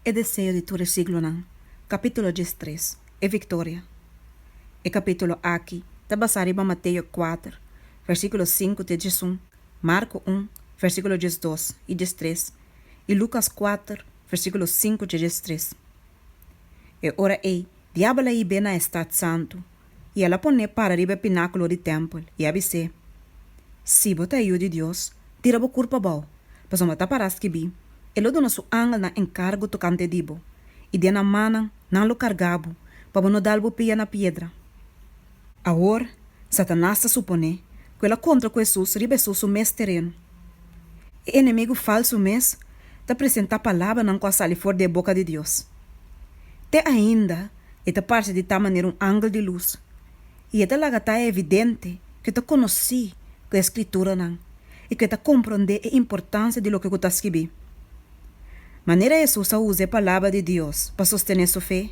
E deseo di tur e siglonan. Capítulo djes tres, E victoria. E capítulo aki ta basá riba Mateo kuater, versículo sinku te djesun, Marko un, versículo djes dos i djes tres, i Lukas kuater, versículo sinku tje djes tres. E ora ei, Diabel a hib'é na e stat santu, i el a pon'é para riba e pinákulo di tèmpel, i a bis'é, Si bo ta e Yu di Dios, tira bo kurpa bou, pasobra ta pará skibí, E lo duna su angelnan enkargu tokante di bo, i den nan mannan nan lo kargá bo, pa bo no dal bo pia na piedra. Awor, Satanas ta suponé ku el a kontra ku Hesus riba Hesus su mes tereno. E enemigu falsu mes ta presentá palabranan ku a sali for di e boka di Dios. Te ainda e ta parse di ta manera un angel di lus, i e ta laga ta evidente ku e ta konosí ku e skrituranan i ku e ta komprondé e importansia di loke ku ta skibí. Manera Hesus a usa e Palabra di Dios pa sostené su fe,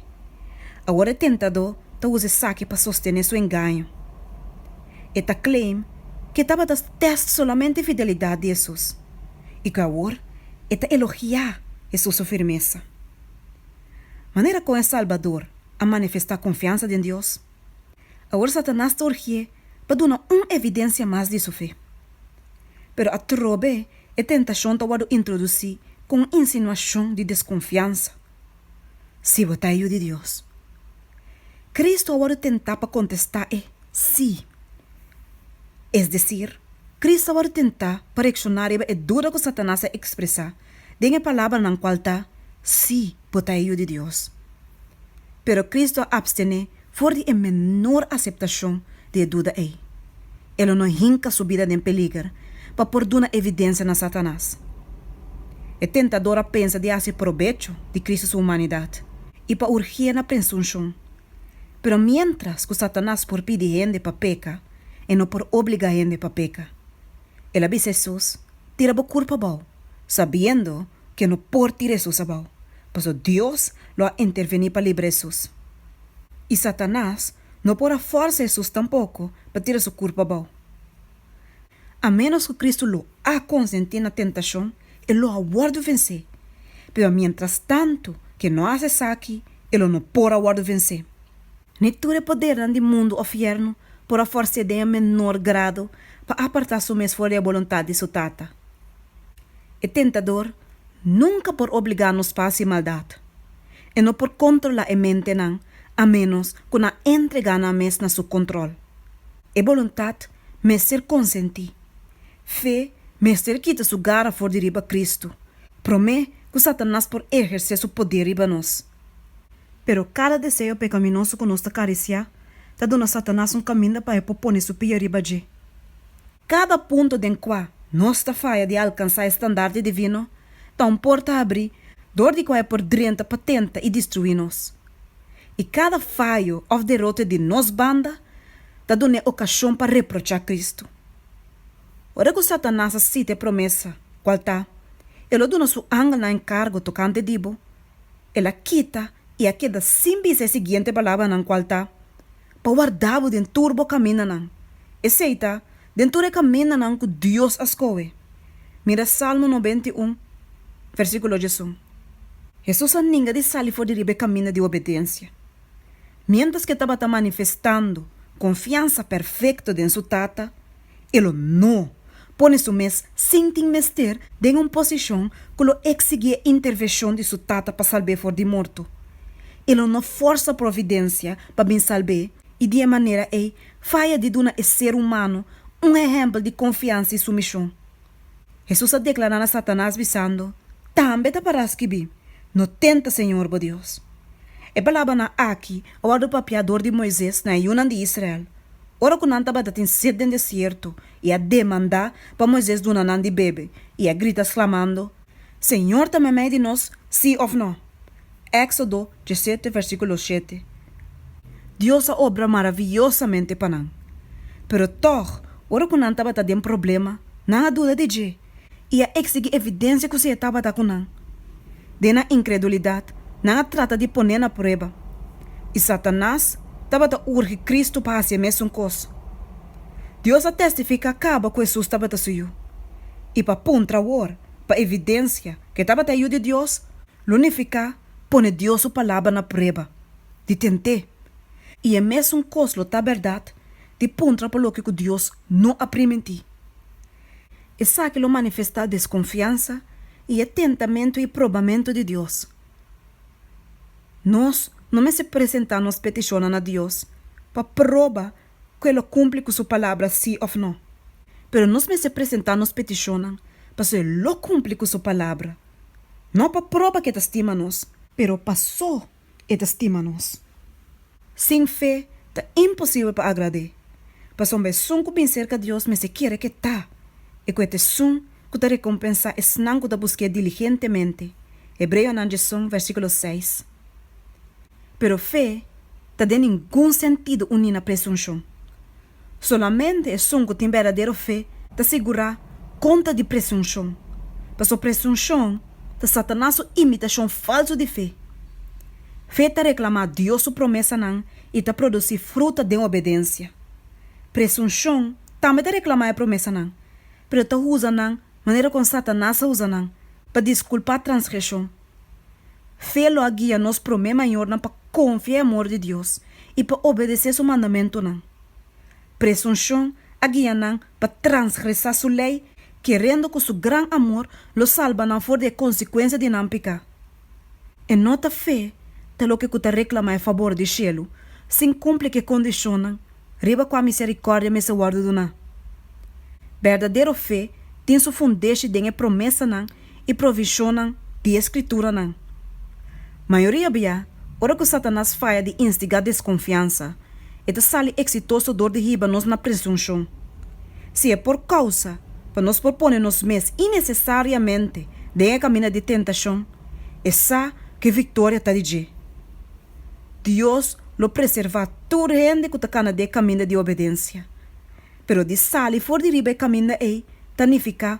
awor e tentadó ta usa esaki pa sostené su engaño. E ta claim ku e tabata test solamente fidelidat di Hesus i ku awor e ta elogiá Hesus su firmesa. Manera kon e Salbador a manifestá konfiansa den Dios? Awor Satanas ta urgié pa duna un evidensia mas di su fe. Pero atrobe e tentashon ta wòrdu introdusí ku un insinuashon di deskonfiansa. Si bo ta e Yu di Dios. Kristu a wòrdu tentá pa kontestá e sí. Es desir, Kristu a wòrdu tentá pa reakshoná riba e duda ku Satanas a ekspresá den e palabranan cual ta Sí bo ta e Yu di Dios. Pero Cristo a abstené for di e menor aceptacion di e duda ei. E lo no hinca su bida den peliger pa por duna evidencia na Satanas. E tentador a pensa di haci probecho di Cristo su humanidad y pa urgié na presuncion. Pero mientras cu Satanas por pidi hende pa peca, e no por obliga hende pa peca. El a bisa Hesus, Tira bo kurpa abou, sabiendo ke no por tira Hesus abou, paso Dios lo a interveni pa libra Hesus. I Satanas no por a forsa Hesus tampoko pa tira su kurpa abou. A ménos ku Kristu lo a konsentí na tentashon, e lo a wòrdu vensé, pero miéntrastantu ke no hasi esaki, e lo no por a wòrdu vensé. Ni tur e podernan di mundu òf yèrnu por a fòrs'é den e menor grado pa apartá su mes for di e boluntat di su Tata. E tentador nunka por obligá nos pa hasi maldat. E no por kontrolá e mentenan a ménos ku nan entregá nan mes na su kontròl. E boluntat mester konsentí. Fe mester kita su gara for di riba Kristu, promé ku Satanas por ehersé su poder riba nos. Pero kada deseo pekaminoso ku nos ta karisiá ta duna Satanas un kaminda pa e por pone su pia riba dje. Kada punto den kua nos ta faya di alkansá e standardi divino ta un porta abrí dor di kua e por drenta pa tenta i destruí nos. I kada fayo òf derote di nos banda ta duna e okashon pa reprochá Kristu. Ora ku Satanas a sita e promesa, kual ta, E lo duna su angelnan enkargo tokante di bo, el a kita i a keda sin bisa e siguiente palabranan, kual ta, Pa warda bo den tur bo kamindanan, esei ta, den tur e kamindanan ku Dios a skohe. Mira Salmo noventa i un, versíkulo diesun. Hesus a ninga di sali for di riba e kaminda di obedensia. Miéntras ke tabata manifestando konfiansa perfekto den su Tata, e lo no pone su mes sin tin mester den un posishon ku lo eksigi e interveshon di su tata pa salb'é for di morto. E lo no forsa providensia pa bin salb'é i di e manera ei faya di duna e ser humano un ehèmpel di konfiansa i sumishon. Hesus a deklará na Satanas bisando, Tambe ta pará skibí, No tenta Señor bo Dios. E palabranan aki a wòrdu papiá dor di Moises na e yunan di Israel, ora ku nan tabata tin sid den desierto i a demandá pa Moises duna nan di bebe i a grita sklamando, Señor ta mamei di nos, si of no? Exodo diesete versiculo shete. Dios a obra maravillosamente pa nan. Pero tog, ora cu nan tabata den problema, nan a duda di dje y a exigi evidencia cu Sehe tabata cu nan. Den nan incredulidad, nan a trata di pone na prueba. Y Satanas tabata urgi Cristo pa haci e mesun cos. Dios a testifica caba cu Hesus tabata Su Yu. i pa puntra wor, pa evidensia ke tabata e Yu di Dios, lo nifiká pone Dios su palabra na prueba, di tent'é. I e mesun kos lo ta bèrdat di puntra pa loke ku Dios no a primintí. Esaki lo manifestá deskonfiansa i e tentamentu i probamentu di Dios. Nos no mester presentá nos petishonnan na Dios pa proba ku e lo kumpli ku su palabra sí òf nò. Pero nos mester presentá nos petishonnan pasobra e lo kumpli ku su palabra, no pa proba ku e ta stima nos, pero pasó e ta stima nos. Sin fe ta imposibel pa agrad'é, pasobra esun ku bin serka Dios mester kere ku e ta i ku e ta esun ku ta rekompensá esnan ku ta busk'é diligentemente. Hebreonan dje son, versíkulo seis. pero fe ta den ningun sentido uní na presunshon. Solamente esun ku tin berdadero fe ta sigurá kontra di presunshon, pasobra presunshon ta Satanas su imitashon falsu di fe. Fe ta reklamá Dios su promesanan i ta produsí fruta den obedensia. Presunshon tambe ta reklamá e promesanan, pero ta usa nan manera kon Satanas a usa nan, pa diskulpá transgreshon. Fe lo a guia nos promé mayornan pa konfia e amor di Dios i pa obedesé su mandamentunan. Presunshon a guia nan pa transgresá su lei, kerendo ku su gran amor lo salba nan for di e konsekuensia di nan peká. E no ta fe ta loke ku ta reklamá e fabor di shelu sin kumpli ku e kondishonnan riba kua miserikòrdia mester wòrdu duná. Berdadero fe tin su fundeshi den e promesanan i provishonnan di e Skrituranan. Mayoria bia, ora ku Satanas faya di instigá deskonfiansa, e ta sali eksitoso dor di hiba nos na presunshon. Si e por kousa pa nos por pone nos mes inesesariamente den e kaminda di tentashon, e sa ku e viktoria ta di dje. Dios lo preservá tur hende ku ta kana den e kaminda di obedensia. Pero di sali for di riba e kaminda ei ta nifiká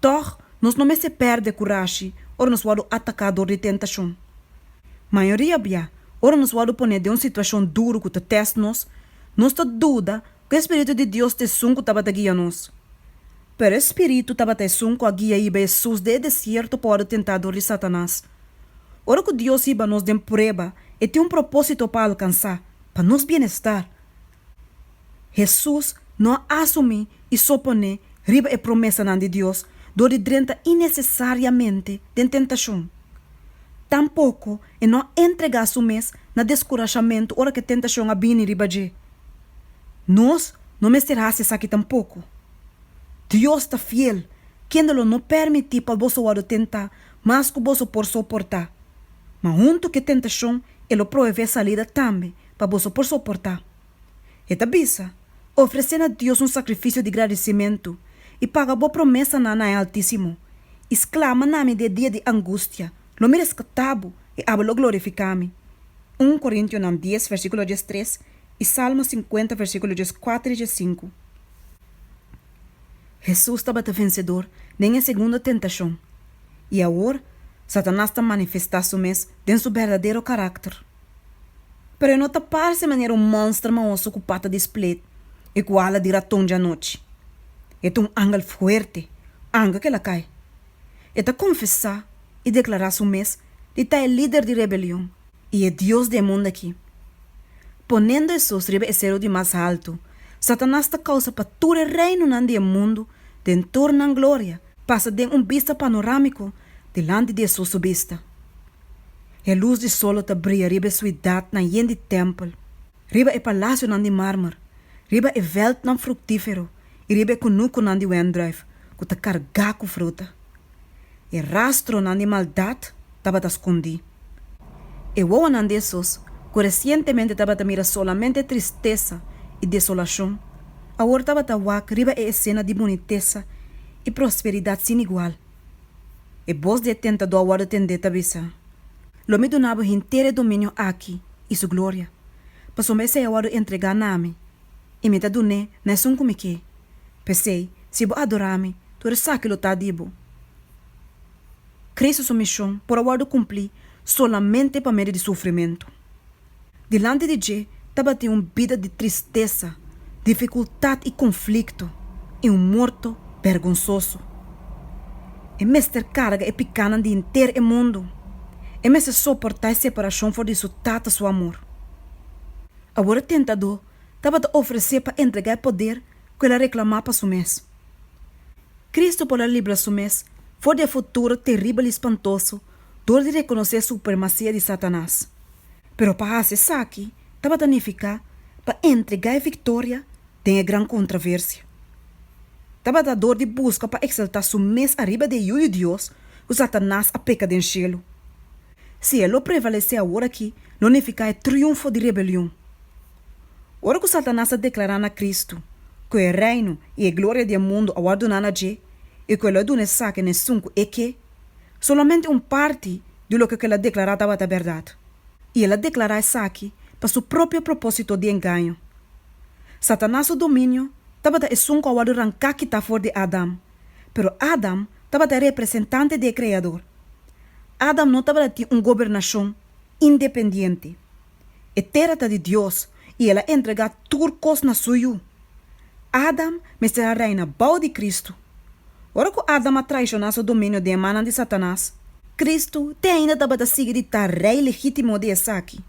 Tòg, nos no mester pèrdè kurashi ora nos wòrdu ataká dor di tentashon. Mayoria bia, ora nos wòrdu ponè den un situashon duru ku ta tèst nos, nos ta duda ku e spiritu di Dios ta esun ku tabata guia nos. Pero e spiritu tabata esun ku a guia hiba Hesus den e desierto pa wòrdu tentá dor di Satanas. Ora ku Dios hiba nos den prueba, e tin un propósito pa alkansá, pa nos bienestar. Hesus no a asumí i soponé riba e promesanan di Dios dor di drenta inesesariamente den tentashon. Tampoko e no a entregá su mes na deskurashamentu ora ku e tentashon a bini riba dje. Nos no mester hasi esaki tampoko. Dios ta fiel, kende lo no permití pa boso wòrdu tentá mas ku boso por soportá. Ma huntu ku e tentashon e lo proveé salida tambe pa boso por soportá. E ta bisa, Ofresé na Dios un sakrifisio di gradisimentu, i paga bo promesanan na e Altísimo, i sklama na mi den e dia di angustia, lo mi reskatá bo, i aba lo glorifiká mi. Un Korintionan dies, versíkulo dies tres, i Salmo sinkuenta, versíkulo dies kuater i dies sinku. Hesus tabata vensedor den e segundo tentashon, i awor Satanas ta manifestá su mes den su berdadero karakter. pero e no ta parse manera un monster mahoso cu pata di split y cu ala di raton djanochi. E ta un angel fuerte, anca cu el a cay. E ta confesa y declara su mes di ta e lider di rebelion y e dios di e mundo aki. Ponendo esos riba e cerro di mas halto, Satanas ta causa pa tur e reinonan di e mundo den tur nan gloria pasa den un bista panoramico dilanti di esoso bista. E lus di sol lo ta bria riba e suidatnan yen di tèmpel, riba e palasionan di mármer, riba e vèltnan fruktífero i riba e kunukunan di wèndrùif ku ta kargá ku fruta. E rastronan di maldat tabata skondí. E wowonan di esos ku resientemente tabata mira solamente tristesa i desolashon, awor tabata wak riba e esena di bunitesa i prosperidat sin igual. E bos di e tentadó a wòrdu tendé ta bisa, Lo mi duna bo henter e dominio aki i su gloria, pasobra esei a wòrdu entregá na mi, i mi ta dun'é na esun ku mi ke. P'esei, si bo adorá mi, tur esaki lo ta di bo. Kristu su mishon por a wòrdu kumplí solamente pa medio di sufrimentu. Dilanti di dje tabatin un bida di tristesa, difikultat i konflikto, i un morto bergonsoso. E mester karga e pikanan di henter e mundu. E mester soportá e separashon for di su Tata su amor. Awor e tentadó tabata ofresé pa entregá e poder ku el a reklamá pa su mes. Kristu por a libra su mes for di e futuro teribel i spantoso dor di rekonosé e supremasia di Satanas. Pero pa hasi esaki tabata nifiká pa entregá e viktoria den e gran kontraversia. Tabata dor di buska pa eksaltá su mes ariba di e yu di Dios ku Satanas a peka den shelu. Si e lo prevalesé awor aki lo nifiká e triunfo di rebelion. Ora ku Satanas a deklará na Kristu ku e reino i e gloria di e mundu a wòrdu duná na dje i ku e lo a duna esaki nesun ku e ke, Solamente un parti di loke ku el a deklará tabata bèrdat, i el a deklará esaki pa su propio propósito di engaño. Satanas su dominio tabata esun ku a wòrdu ranká kitá for di Adam, pero Adam tabata e representante di e Kreador. Adam no tabata tin un gobernashon independiente. E tera ta di Dios i el a entregá tur kos na su yu. Adam mester a reina bou di Kristu. Ora ku Adam a traishoná su dominio den mannan di Satanas, Kristu te ainda tabata sigui di ta Rei legítimo di esaki.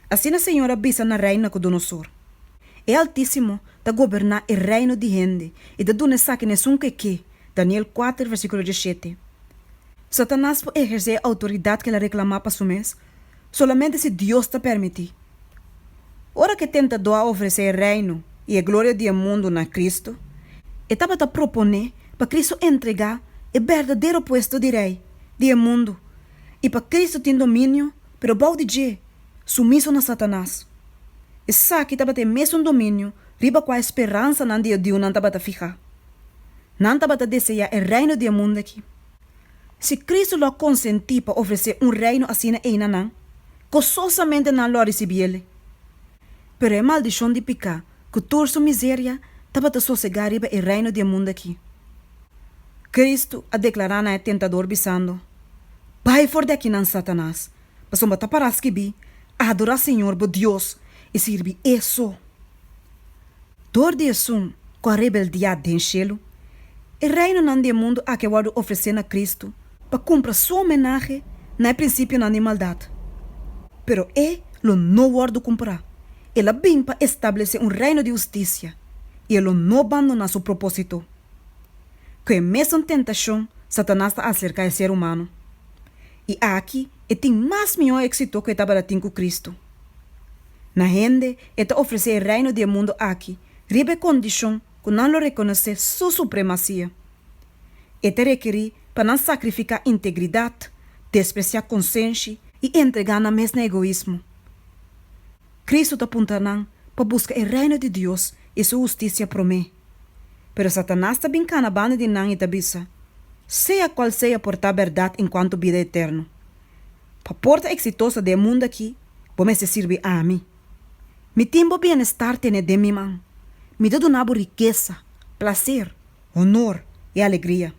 Asina Señor a bisa na Rei Nakudonosor, E Altísimo ta goberná e reino di hende i ta duna esaki na esun ku e ke, Daniel kuater versíkulo dishete. Satanas por ehersé e outoridat ku el a reklamá pa su mes? solamente si Dios ta permití. Ora ku e tentadó a ofresé e Reino i e gloria di e mundu na Kristu, e tabata proponé pa Kristu entregá e berdadero puesto di Rei di e mundu i pa Kristu tin dominio pero bou di dje, sumiso na Satanas. Esaki tabata e mesun dominio riba kua e speransanan di e diunan tabata fihá. Nan tabata deseá e reino di e mundu aki. Si Cristo lo a consenti pa ofrece un reino asina ei na nan, gozosamente nan lo a ricibi el. Pero e maldicion di pica cu tur su miseria tabata sosega riba e reino di e mundo aki. Cristo a declara na e tentador bisando, Bai for di akinan, Satanas, pasobra ta para scibi, Adora Señor bo Dios y sirbi E so. Dor di esun ku a rebeldiá den shelu, e reinonan di e mundu aki a wòrdu ofresé na Kristu pa kumpra su homenahe na e prinsipionan di maldat. Pero e lo no wòrdu kumprá. El a bin pa establesé un reino di hustisia i e lo no bandoná su propósito. Ku e mesun tentashon, Satanas ta aserká e ser humano. I aki e tin mas mihó éksito ku e tabata tin ku Kristu. Na hende e ta ofresé e reino di e mundu aki riba e kondishon ku nan lo rekonosé su supremasia. E ta rekerí pa nan sakrifiká integridat, despresiá konsenshi i entregá nan mes na egoismo. Kristu ta punta nan pa buska e reino di Dios i su hustisia promé. Pero Satanas ta bin kana banda di nan i ta bisa, Sea kual sea portá bèrdat en kuantu bida eterno. Pa por ta eksitoso den e mundu aki, bo mester sirbi ami. Mi tin bo bienestar tene den mi man. Mi ta duna bo rikesa, plaser, honor i alegria.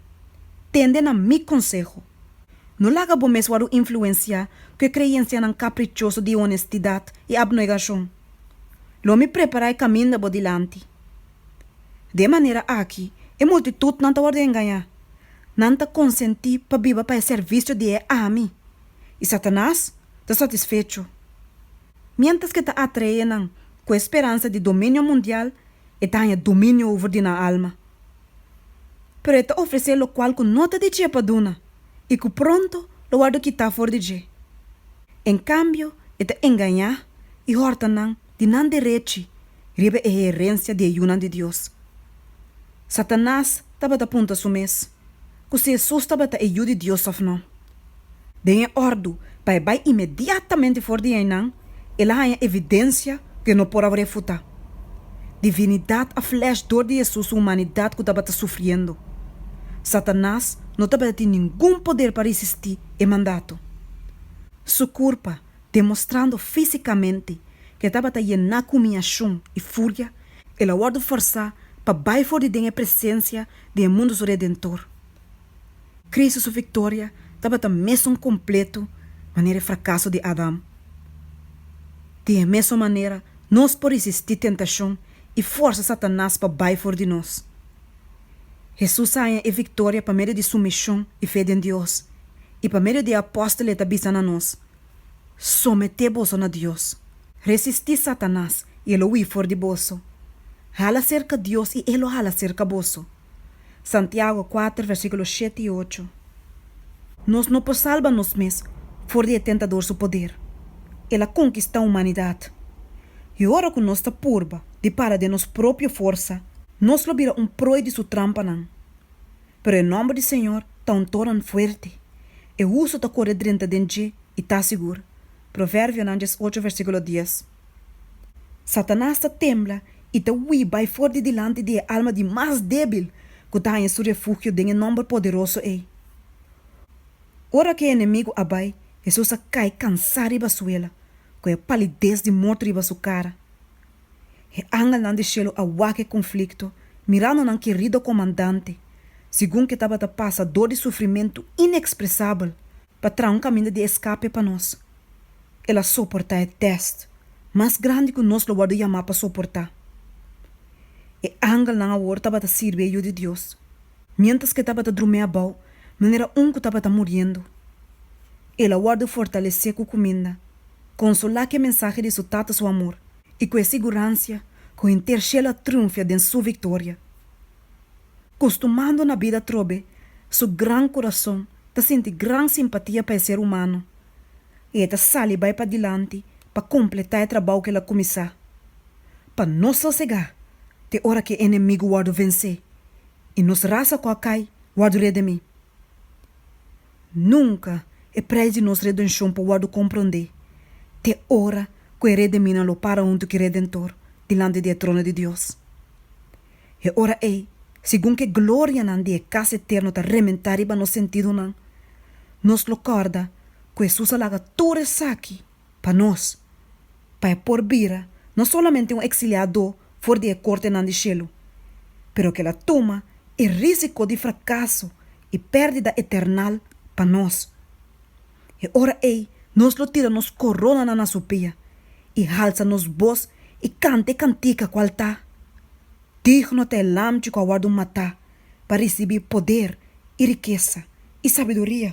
Tende na mi konseho. No laga bo mes wòrdu influensiá ku e kreensianan kaprichoso di honestidat i abnegashon. Lo mi prepará e kaminda bo dilanti. De e manera aki, e multitud nan ta wòrdu engañá. Nan ta konsentí pa biba pa e servisio di e ami, i Satanas ta satisfecho. Miéntras ke ta atraé nan ku e speransa di dominio mundial, e ta haña dominio over di nan alma. Pero e ta ofresé lokual ku no ta di dje pa duna i ku pronto lo wòrdu kitá for di dje. En kambio, e ta engañá i hòrta nan di nan derechi riba e herensia di e yunan di Dios. Satanas tabata punta su mes ku si Hesus tabata e Yu di Dios òf nò. Den e òrdu pa e bai inmediatamente for di einan, el a haña evidensia ku e no por a refutá. Divinidat a flèsh dor di Hesus su humanidat ku tabata sufriendo. Satanas no tabata tin ningun poder pa risistí e mandato. Su kurpa demostrando físikamente ku e tabata yená ku humiashon i furia, el a wòrdu fòrsá pa bai for di den e presensia di e mundu su Redentor. Kristu su viktoria tabata mesun kompletu manera e frakaso di Adam. Di e mesun manera, nos por risistí tentashon i fòrsa Satanas pa bai for di nos. Hesus a haña e viktoria pa medio di sumishon i fe den Dios, I pa medio di e apòstel e ta bisa na nos, Someté boso na Dios. Resistí Satanas, i e lo hui for di boso. Hala serka Dios, i e lo hala serka boso. Santiago kuater versíkulo shete i ocho. Nos no por salba nos mes for di e tentador su poder. El a konkistá humanidat. I ora ku nos ta purba di para den nos propio forsa, nos lo bira un proi di su trampanan. Pero e nòmber di Señor ta un toran fuerte, e husu ta kore drenta den dje i ta sigur. Proverbionan dies ocho versíkulo dies. Satanas ta tembla i ta hui bai for di dilanti di e alma di mas débil ku ta haña su refugio den e nòmber poderoso ei. Ora ku e enemigu a bai, Hesus a kai kansá riba suela, ku e palides di morto riba su kara. E angelnan di shelu a wak e konflikto mirando nan kerido komandante segun ke tabata pasa dor di sufrimentu inekspresabel pa traha un kaminda di eskape pa nos. El a soportá e tèst mas grandi ku nos lo wòrdu yamá pa soportá. E angelnan awor tabata sirbi e Yu di Dios miéntras ke tabata drumé abou manera un ku tabata muriendo. El a wòrdu fortalesé ku kuminda. consola ke mensahe di su Tata su amor i ku e siguransia ku henter shel a triunfia den su victoria. Costumando na bida trobe, su gran curason ta sinti gran simpatia pa e ser humano i e ta sali bai pa dilanti pa completa e trabou ke el a cumisa. Pa no sosega te ora ke e enemigu wordo vence i nos rasa ku a cai wordo redemi. Nunka e prijs di nos redenshon por wòrdu komprondé, te ora ku e rediminan lo para huntu ku e Redentor dilanti di e trono di Dios. E ora ei, segun ku e glorianan di e kas eterno ta rementá riba nos sentidunan, nos lo kòrda ku Hesus a laga tur esaki pa nos, pa e por bira no solamente un eksiliadó for di e kortenan di shelu, pero ke la tuma e rísiko di frakaso i pèrdida eternal pa nos. E ora ei nos lo tira nos koronanan na su pia i halsa nos bos i kanta e kantika kual ta, Digno ta e Lamchi ku a wòrdu matá pa risibí poder i rikesa i sabiduria.